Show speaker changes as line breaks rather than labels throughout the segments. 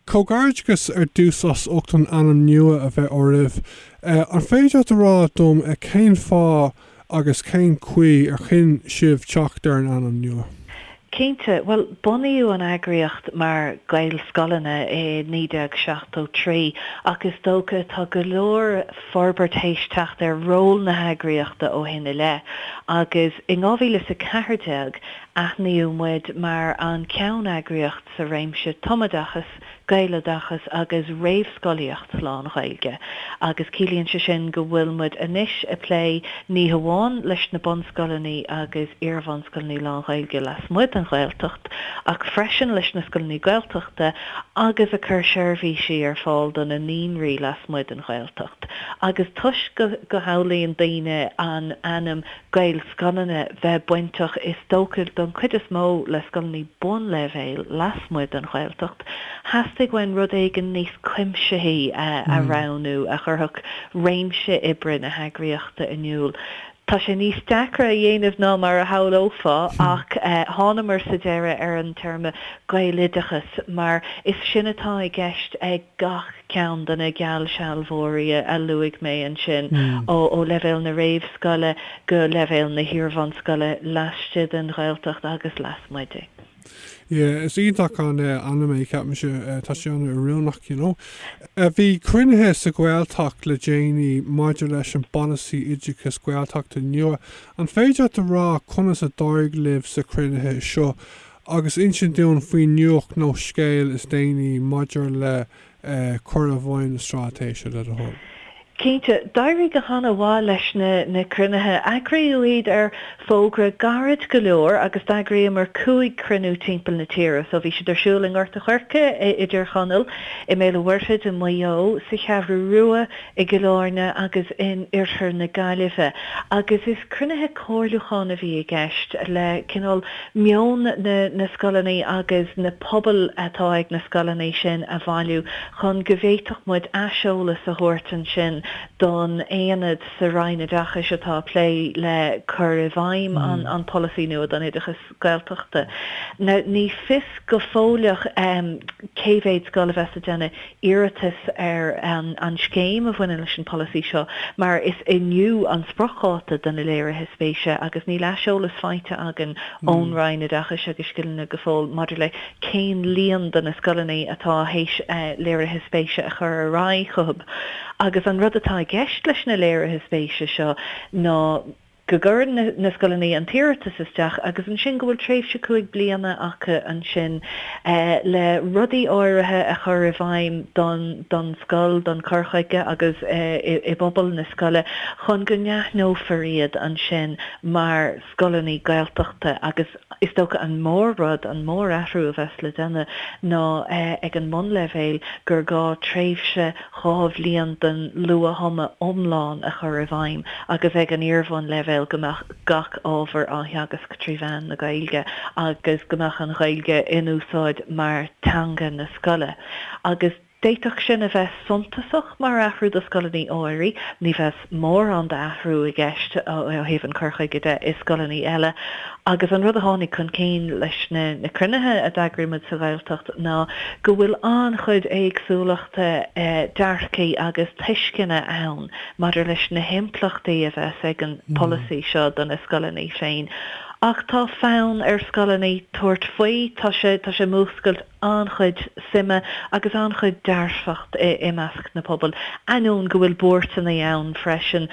Comhghairdeachas ar dtús as ucht an ainm nua a bheith oraibh. An féidir leat a rá dom cén fáth agus cén chaoi ar chinn sibh teacht ar an ainm nua? Cinnte.
Bhuel, bunaíodh an eagraíocht mar Ghaelscoileanna i 1973 ach is dócha tá go leor forbairt théis teacht ar ról na heagraíochta ó shin i leith agus in 2014 aithníodh muid mar an ceanneagraíocht sa réimse tumoideachas, gaeloideachas agus réamhscolaíocht lán-Ghaeilge agus ciallaíonn sé sin go bhfuil muid anois ag plé ní hamháin leis na bunscoileanna agus iarbhunscoileanna lán-Ghaeilge lasmuigh den Ghaeltacht ach freisin leis na scoileanna Gaeltachta agus ag cur seirbhísí ar fáil do na naíonraí lasmuigh den Ghaeltacht agus toisc go samhlaíonn daoine an ainm Gaelscoileanna bheith bainteach is dócha don chuid is mó le scoileanna bunleibhéil lasmuigh den Ghaeltacht, theastaigh uainn rud éigin níos cuimsithí a roghnú a chuirfeadh réimse oibre na heagraíochta in iúl. Tá sé níos deacra a dhéanamh ná mar a shamhlófá ach thánamar sa deireadh ar an téarma 'Gaeloideachas' mar is sin atá i gceist ag gach. ceann de na geallsealbhóirí a luaigh mé ansin, ó leibhéal na réamhscoile go leibhéal na hiarbhunscoile, laistigh den Ghaeltacht agus lasmuigh di. Yeah,
is iontach an ainm é, ceapaimse, tá sé an-oiriúnach, you know. Bhí cruinnithe sa Ghaeltacht le déanaí maidir leis an bpolasaí oideachais Gaeltachta nua. An féidir leat a rá conas a d'éirigh libh sna cruinnithe seo agus insint dúinn faoin nuacht nó scéal is déanaí maidir le cur i bhfeidhm na Straitéise, le do thoil. Cinnte,
d'éirigh go han-mhaith leis na cruinnithe. Eagraíodh iad ar fógra gairid go leor agus d'eagraíomar cúig chruinniú timpeall na tíre. So bhí siad ar siúl i nGort an Choirce, i dTír Chonaill, i mBéal an Mhuirthead, i Maigh Eo, sa Cheathrú Rua, i gCill Áirne agus in iarthar na Gaillimhe agus is cruinnithe comhairliúcháin a bhí i gceist le cineál meon na scoileanna agus na pobail atá ag na scoileanna sin a bhailiú chun go bhféadfadh muid aiseolas a thabhairt ansin don aonad sa Roinn Oideachais atá ag plé le cur i bhfeidhm an pholasaí nua don oideachas. Gaeltachta. Now ní fios go fóilleach cé mhéad scoil a bheas ag déanamh iarratas ar an scéim a bhaineann leis an pholasaí seo mar is inniu an spriocdháta do na léirithe spéise agus níl aiseolas faighte againn ón Roinn Oideachais agus Scileanna go fóill maidir le cén líon de na scoileanna atá théis léirithe spéise a chur ar aghaidh chucub agus an rud atá i gceist leis na léirithe spéise seo ná go gcuireann na scoileannaí an t-iarratas isteach agus ansin go bhfuil tréimhse cúig bliana acu ansin le rudaí áirithe a chur i bhfeidhm don don scoil, don cur chuige agus i bpobal na scoile chun go n-aithneofar iad ansin mar scoileannaí Gaeltachta agus. Is dócha an mór rud, an mór athrú a bheas le déanamh ná ag an mbunleibhéal gur gá tréimhse dhá bhliain den luath-thumadh iomlán a chur i bhfeidhm agus ag an iar-bhunleibhéal go mbeadh gach ábhar á theagasc trí mheán na Gaeilge agus go mbeadh an Ghaeilge in úsáid mar teanga na scoile agus D'fhéadfadh sin a bheith suntasach mar athrú do scoileannaí áirithe. Ní bheidh mórán d'athrú i gceist ó thaobh an cur chuige de i scoileannaí eile agus an rud a tháinig chun cinn leis na cruinnithe a d'eagraigh muid sa Ghaeltacht ná go bhfuil an-chuid éagsúlachta dearcaí agus tuisceanna ann maidir leis na himpleachtaí a bheas ag an polasaí seo do na scoileannaí féin. Ach tá fonn ar scoileannaí tabhairt faoi, tá sé théis múscailt. an-chuid suime agus an-chuid dearfacht i measc na pobail, ainneoin go bhfuil buairteanna ann freisin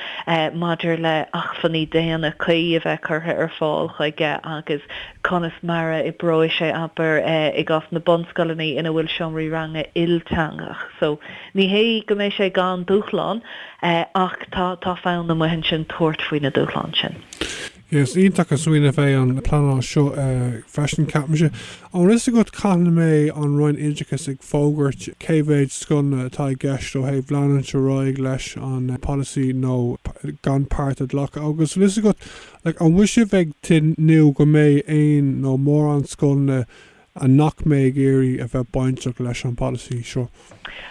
maidir le achmhainní daonna cuí a bheith curtha ar fáil chuige agus conas mar a oibreoidh sé, abair, i gcás na bunscoileannaí ina bhfuil seomraí ranga ilteangach. So, ní hé go mbeidh sé gan dúshlán ach tá fonn amuigh ansin tabhairt faoi na dúshláin sin. Yes
iontach an smaoineamh é an pleanáil seo freisin, ceapaimse. An bhfuil fhios agat cathain a mbeidh an Roinn Oideachais ag fógairt cé mhéid scoileanna atá i gceist ó thaobh leanúint ar aghaidh leis an polasaí nó gan páirt a ghlacadh agus an bhfuil fhios agat an bhfuil sibh ag tnúth go mbeidh aon nó mórán scoileanna a nach mbeidh ag iarraidh a bheith bainteach leis an bpolasaí seo?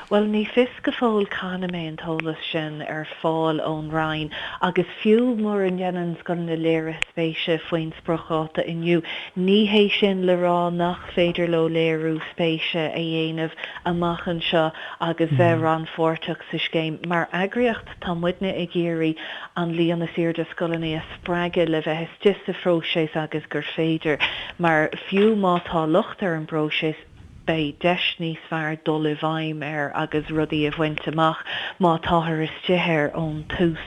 Bhuel,
ní fios go fóill cathain a mbeidh an t-eolas sin ar fáil ón Roinn agus fiú mura ndéanann scoileanna léiriú spéise faoin spriocdháta inniu, ní hé sin le rá nach féidir leo léiriú spéise a dhéanamh amach anseo agus bheith rannpháirteach sa scéim. Mar eagraíocht, tá muidne ag iarraidh an líon is airde scoileannaí a. spreagadh le bheith istigh sa phróiseas agus gur féidir, mar fiú má tá locht ar an bpróiseas, beidh deis níos fearr dul i bhfeidhm air agus rudaí a bhaint amach má táthar istigh air ón tús.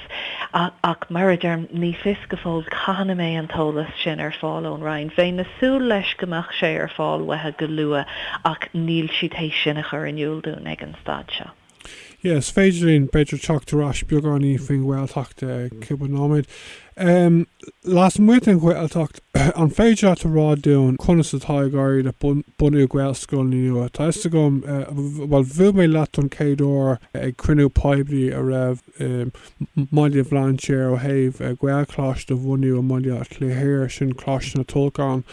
Ach mar a deirim, ní fios go fóill cathain a mbeidh an t-eolas sin ar fáil ón Roinn. Bheinn ag súil leis go mbeadh sé ar fáil uathu go luath ach níl siad théis sin a chur in iúl dúinn ag an staid seo. Yes, is
féidir linn, b'fhéidir teacht ar ais beagáinín faoin Ghaeltacht i gcúpla nóiméad. Em, lasmuigh den Ghaeltacht, an féidir leat a rá dúinn conas atá ag éirí le bunú Gaelscoileanna nua? Tá fhios agam, bhuel, bhuail mé leat don chéad uair ag cruinniú poiblí a raibh i mBaile Bhlainséir ó thaobh Gaelcholáiste a bhunú i mBaile Átha Cliath thiar, sin Coláiste na Tulchann,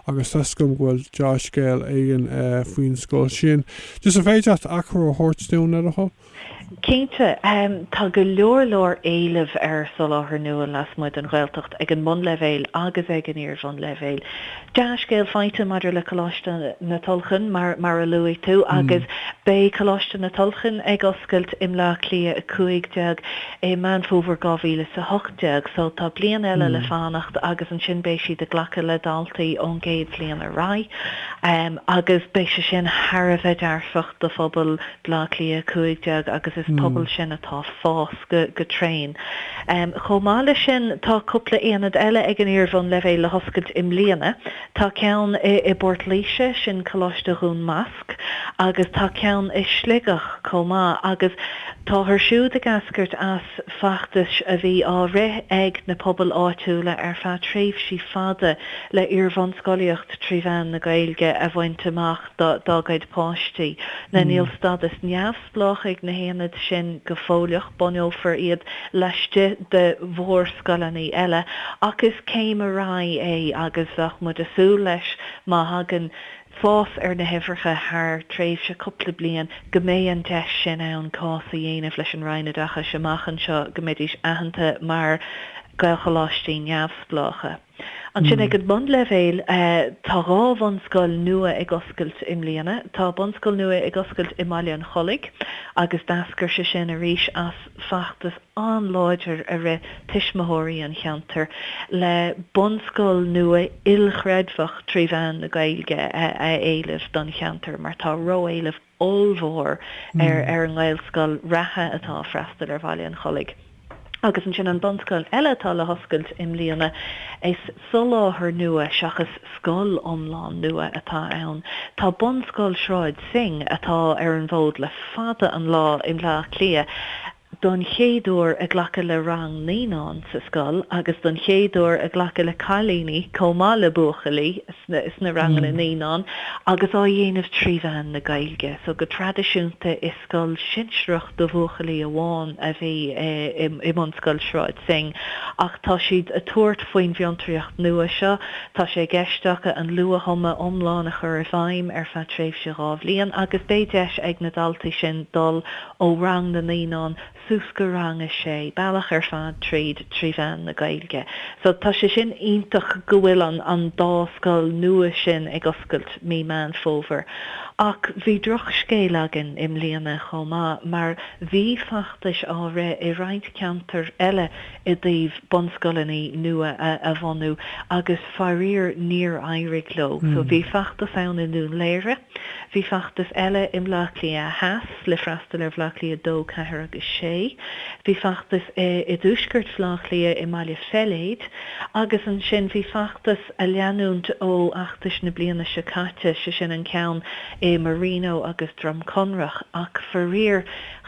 agus tuigim go bhfuil dea-scéal éigin faoin scoil sin. Just an féidir leat achoimre a thabhairt dúinn le do thoil?
Cinnte. Tá go leor leor éilimh ar soláthar nua lasmuigh den Ghaeltacht ag an mbunleibhéal agus ag an iar-bhunleibhéal. Dea-scéal faighte maidir le Coláiste na Tulchann mar a luaigh tú agus beidh Coláiste na Tulchann ag oscailt i mBleá Cliath 15 i Meán Fómhair 2018 so tá bliain eile le fanacht agus ansin beidh siad ag glacadh le daltaí ón gcéad bhliain ar aghaidh agus beidh sé sin thar a bheith dearfach do phobal Bleá Cliath 15 agus is pobal sin atá fás go tréan. Chomh maith leis sin tá cúpla aonad eile ag an iarbhun leibhéal le hoscailt i mbliana. Tá ceann i bPort Laoise, sin Coláiste Dhún Másc, agus tá ceann i Sligeach chomh maith agus táthar siúd ag eascairt as feachtais a bhí á rith ag na pobail áitiúla ar feadh tréimhsí fada le iarbhunscolaíocht trí mheán na Gaeilge a bhaint amach. dá gcuid páistí. Now níl stádas neamhspleách ag na haonaid sin go fóilleach, bunófar iad laistigh de mhórscoileanna eile, ach is céim ar aghaidh é agus bheadh muid ag súil leis má thagann fás ar na huimhreacha thar tréimhse cúpla bliain go mbeidh an deis sin ann cás a dhéanamh leis an Roinn Oideachais amach anseo go mbeidís aitheanta mar Ghaelcholáistí neamhspleácha. Ansin ag an mbunleibhéal, tá dhá bhunscoil nua ag oscailt i mbliana. Tá bunscoil nua ag oscailt i mBaile an Chollaigh agus d'eascair sé sin arís as feachtas an-láidir a rith tuismitheoirí an cheantair le bunscoil nua ilchreidmheach trí mheán na Gaeilge a éileamh don cheantar mar tá ró-éileamh ollmhór ar an nGaelscoil reatha atá ag freastal ar Bhaile an Chollaigh agus ansin an bunscoil eile atá le hoscailt i mbliana. Is soláthar nua seachas scoil iomlán nua atá ann. Tá Bunscoil Shráid Synge, atá ar an bhfód le fada an lá i mBleá Cliath, don chéad uair ag glacadh le rang naíonán sa scoil agus don chéad uair ag glacadh le cailíní chomh maith le buachaillí sna ranganna naíonán agus á dhéanamh trí mheán na Gaeilge so go traidisiúnta is scoil shinsearach do bhuachaillí amháin a bhí i mBunscoil Sráid Synge ach tá siad ag tabhairt faoin bhfiontraíocht nua seo tá sé i gceist acu an luath-thumadh iomlán a chur i bhfeidhm ar feadh tréimhse dhá bhliain agus beidh deis ag na daltaí sin dul ó rang na naíonán suas go rang a sé, bealach ar fad tríd trí mheán na Gaeilge. So tá sé sin iontach go bhfuil an an dá scoil nua sin ag oscailt mí Meán Fómhair. Ach bhí droch scéal againn i mbliana chomh maith mar bhí feachtais á rith i roinnt ceantair eile i dtaobh bunscoileannaí nua a a bhunú agus faraor níor éirigh leo. So bhí feachtas ann i nDún Laoghaire, bhí feachtas eile i mBleá Cliath Theas, le freastal ar Bhleá Cliath 2, 4 agus 6. Bhí feachtas i dtuaisceart Bhleá Cliath i mBaile Pheiléid agus ansin bhí feachtas ag leanúint ó fheachtas na bliana seo caite, sé sin an ceann i Marino agus Droim Conrach ach faraor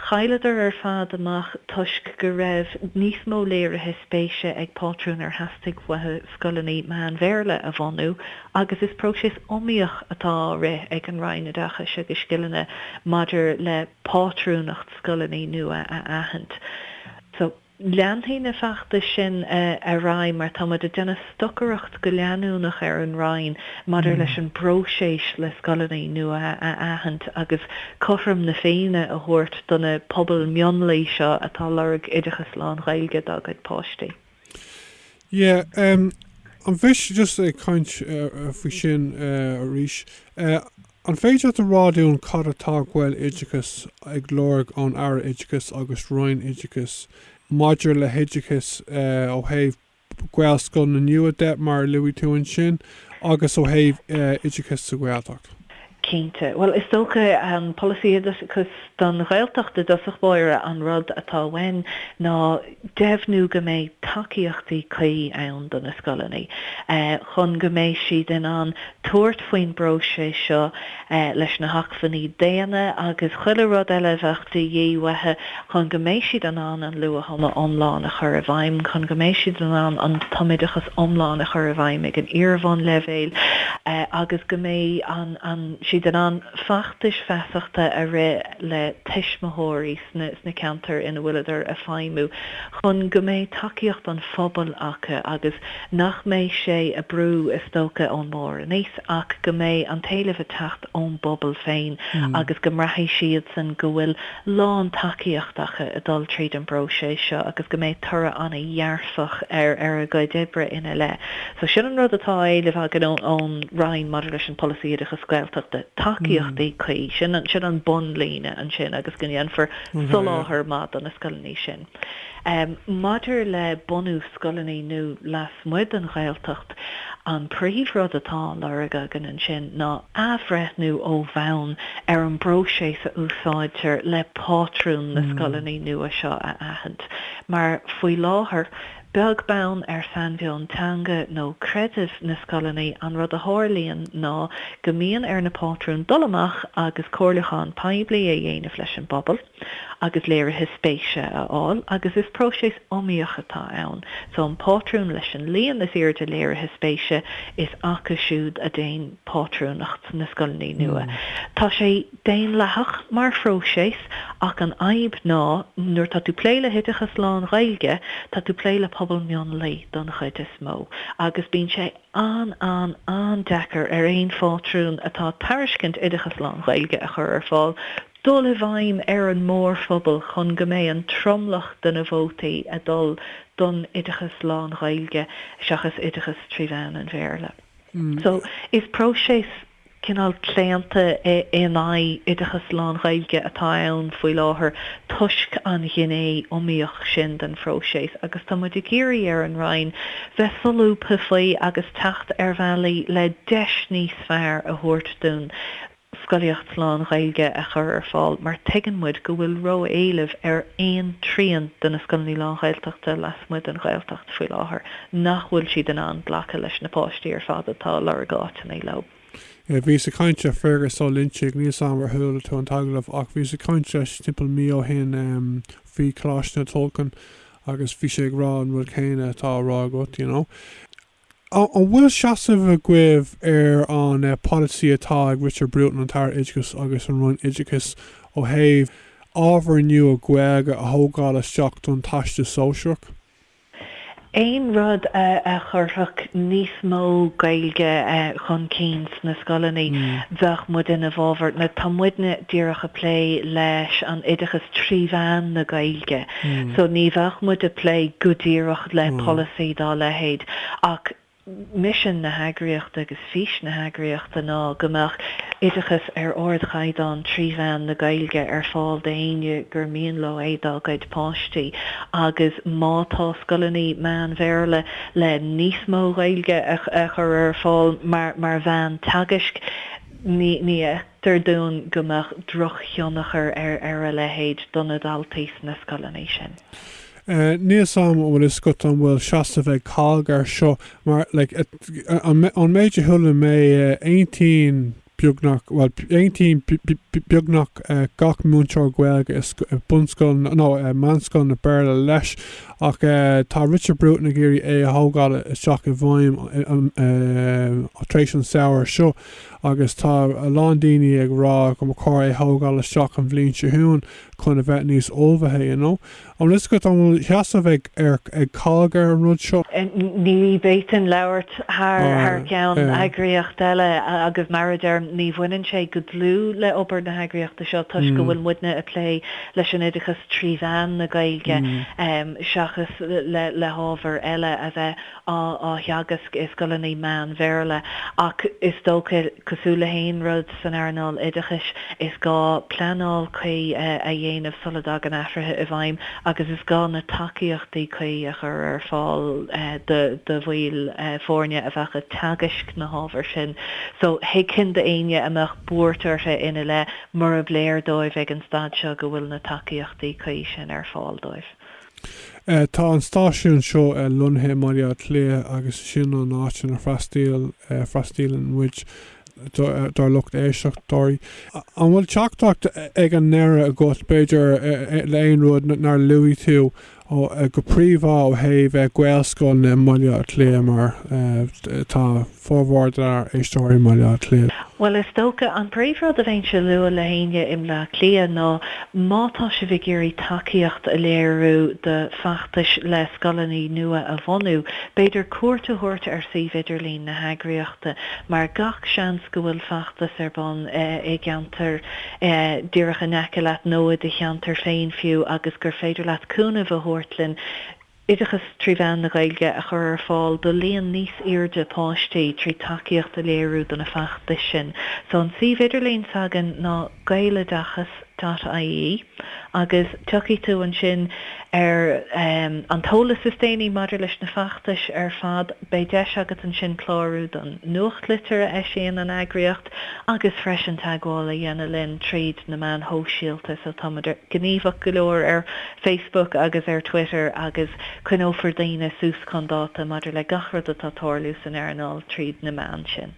chailleadar ar fad amach toisc go raibh níos mó léirithe spéise ag pátrúin ar theastaigh uathu scoileannaí meán-Bhéarla a bhunú agus is próiseas iomaíoch atá á rith ag an Roinn Oideachais agus Scileanna maidir le pátrúnacht scoileannaí nua a aithint. So, leanfaidh na feachtais sin ar aghaidh mar tá muid ag déanamh stocaireacht go leanúnach ar an Roinn maidir leis an bpróiseas le scoileannaí nua a aithint agus cothrom na Féinne a thabhairt do na pobail mhionlaigh seo atá ag lorg oideachas lán-Ghaeilge dá gcuid páistí.
Yeah ehm an bhfuil just ag caint faoi sin arís eh an féidir leat a rá dúinn cad atá Gaeloideachas ag lorg ón Aire Oideachais agus Roinn Oideachais maidir le hoideachas eh ó thaobh Gaelscoileanna nua de mar a luaigh tú ansin agus ó thaobh eh oideachas sa Ghaeltacht? Cinnte.
Bhuel, is dócha an polasaí oideachais don Ghaeltacht i dtosach báire, an rud atá uainn ná deimhniú go mbeidh tacaíochtaí cuí ann do na scoileannaí chun go mbeidh siad in ann tabhairt faoin bpróiseas seo leis na hacmhainní daonna agus chuile rud eile a bheadh de dhíth uathu chun go mbeidh siad in ann an luath-thumadh iomlán a chur i bhfeidhm, chun go mbeidh siad in ann an tumoideachas iomlán a chur i bhfeidhm ag an iar-bhunleibhéal agus go mbeidh siad in ann feachtais feasachta a rith le tuismitheoirí sna ceantair ina bhfuileadar ag feidhmiú chun go mbeidh tacaíocht an phobail acu agus nach mbeidh sé á bhrú is dócha ón mbarr aníos ach go mbeidh an t-éileamh ag teacht ón bpobal féin agus go mbraithfidh siadsan go bhfuil lán tacaíocht acu ag dul tríd an bpróiseas seo agus go mbeidh toradh an-dhearfach ar ar a gcuid oibre ina leith. So sin an rud atá á éileamh againn ón Roinn maidir leis an Polasaí Oideachais Gaeltachta, tacaíochtaí cuí, sin an bun líne ansin agus go ndéanfar soláthar maith do na scoileannaí sin. Maidir le bunú scoileannaí nua lasmuigh den Ghaeltacht, an príomh rud atá á lorg againn ansin ná athbhreithniú ó bhonn ar an bpróiséas a úsáidtear le pátrún na scoileannaí nua seo a aithint, mar faoi láthair, beag beann ar shainmheon teanga nó creidimh na scoileannaí, an rud a tharlaíonn ná go mbíonn ar na pátrún dul amach agus comhairliúchán poiblí a dhéanamh leis an bpobal. agus léirithe spéise a fháil agus is próiseas iomaíoch atá ann so an pátrún leis an líon is airde léirithe spéise is acu siúd a théann pátrúnacht na scoileannaí nua. Tá sé daonlathach mar phróiseas ach an fhadhb ná nuair atá tú plé le hoideachas lán-Ghaeilge tá tú plé le pobal mionlaigh don chuid is mó agus bíonn sé an-an-an-deacair ar aon phátrún atá tairiscint oideachas lán-Ghaeilge a chur ar fáil dul i bhfeidhm ar an mórphobal chun go mbeidh an tromlach de na vótaí ag dul don oideachas lán-Ghaeilge seachas oideachas trí mheán an Bhéarla. So, is próiseas cineál claonta in aghaidh oideachas lán-Ghaeilge atá ann faoi láthair toisc an ghné iomaíoch sin den phróiseas agus tá muid ag iarraidh ar an Roinn bheith solúbtha faoi agus teacht ar bhealaí le deis níos fearr a thabhairt dúinn scolaíocht lán Ghaeilge a chur ar fáil mar tuigeann muid go bhfuil ró éileamh ar aon trian de na scoileannaí lán Ghaeltachta lasmuigh den Ghaeltacht faoi láthair nach bhfuil siad in ann glacadh leis na páistí ar fad atá a lorg áiteannaí leo. Bhíos ag
caint le Fergus Ó Loinnsigh, níl a fhios agam ar chuala tú an t-agallamh ach bhíos ag caint leis timpeall mí ó shin faoi Choláiste na Tulchann agus bhí sé ag rá an rud céanna atá á rá agat you know. An bhfuil seasamh agaibh ar an polasaí atá ag Richard Bruton, an tAire Oideachais agus an Roinn Oideachais ó thaobh ábhair nua Gaeilge a thógáil isteach don Teastas Sóisearach?
Aon rud a chuirfeadh níos mó Gaeilge chun cinn sna scoileannaí, bheadh muid ina bhfábhar. Tá muidne díreach a plé leis an oideachas trí mheán na Gaeilge. So ní bheadh muid a' plé go díreach le polasaí dá leithéid ach misean na heagraíochta agus fís na heagraíochta ná go mbeadh oideachas ar ardchaighdeán trí mheán na Gaeilge ar fáil d'éinne gur mian leo é dá gcuid páistí agus má tá scoileannaí meán Bhéarla le níos mó Gaeilge a chur ar fáil mar mheán teagaisc ní dtuairim go mbeadh drochthionchar ar ar a leithéid do na daltaí sna scoileanna sin.
Níos, am, an bhfuil fhios agat an bhfuil seasamh ag COGG air seo? Mar, like, ón méid a chuala mé aontaíonn beagnach, bhuel, aontaíonn beagnach gach múinteoir Gaeilge i bunscoil, nó i meánscoil na Béarla leis. Ach tá Richard Bruton ag iarraidh é thógáil isteach i bhfeidhm tar éis an samhradh seo. agus tá a lán daoine ag rá go mba cóir é thógáil isteach an bhliain seo chugainn chun a bheith níos ullmhaithe, you know. An bhfuil fhios agat an bhfuil sheasamh ag ag COGG ar an rud seo? Ní bhféadfainn
labhairt thar thar ceann eagraíocht eile agus mar a deirim, ní bhaineann sé go dlúth le obair na heagraíochta seo toisc go bhfuil muidne a plé leis an oideachas trí mheán na Gaeilge seachas le hábhar eile a bheith á theagasc i scoileanna meán-Bhéarla ach is dócha, cosúil le haon rud san earnáil oideachais, is gá pleanáil cuí a dhéanamh sula dtagann athruithe i bhfeidhm agus is gá na tacaíochtaí cuí a chur ar fáil do bhaill foirne a bheadh ag teagasc na hábhair sin so thuigfinn d'éinne a mbeadh buairt orthu ina leith murab léir dóibh ag an staid seo go bhfuil na tacaíochtaí cuí sin ar fáil dóibh.
Tá an stáisiún seo lonnaithe i mBaile Átha Cliath agus sin an áit ina bhfreastaíleann muid dár lucht éisteoirí. An bhfuil teachtaireacht ag an ndeireadh agat, b'fhéidir, nó aon rud nár luaigh tú, go príomhá ó thaobh Gaelscoileanna i mBaile Átha Cliath mar tá, Formhór dár éisteoirí i mBaile Átha Cliath. Bhuel is
dócha an príomhrud a bheinnse a lua le héinne i mBleá Cliath ná má tá sibh ag iarraidh tacaíocht a léiriú do feachtais le scoileanna nua a bhunú, b'fhéidir cuairt a thabhairt ar suíomh idirlín na heagraíochta mar gach seans go bhfuil feachtas ar bun i gceantar díreach in aice leat nó i do cheantar féin fiú agus gur féidir leat cúnamh a thabhairt linn. Oideachas trí mheán na Gaeilge a chur ar fáil do líon níos airde páistí trí tacaíocht a léiriú do na feachtais sin. So an suíomh idirlín s'againn ná gaeloideachas dot ie agus tiocfaidh tú ansin ar em an t-eolas is déanaí maidir leis na feachtais ar fad. Beidh deis agat ansin clárú don nuachtlitir a eisíonn an eagraíocht. Agus freisin teagmháil a dhéanamh linn tríd na meáin shóisialta, so táimid gníomhach go leor ar Facebook agus ar Twitter agus coinneofar daoine suas chun dáta maidir le gach rud atá tarlú san earnáil tríd na meáin sin.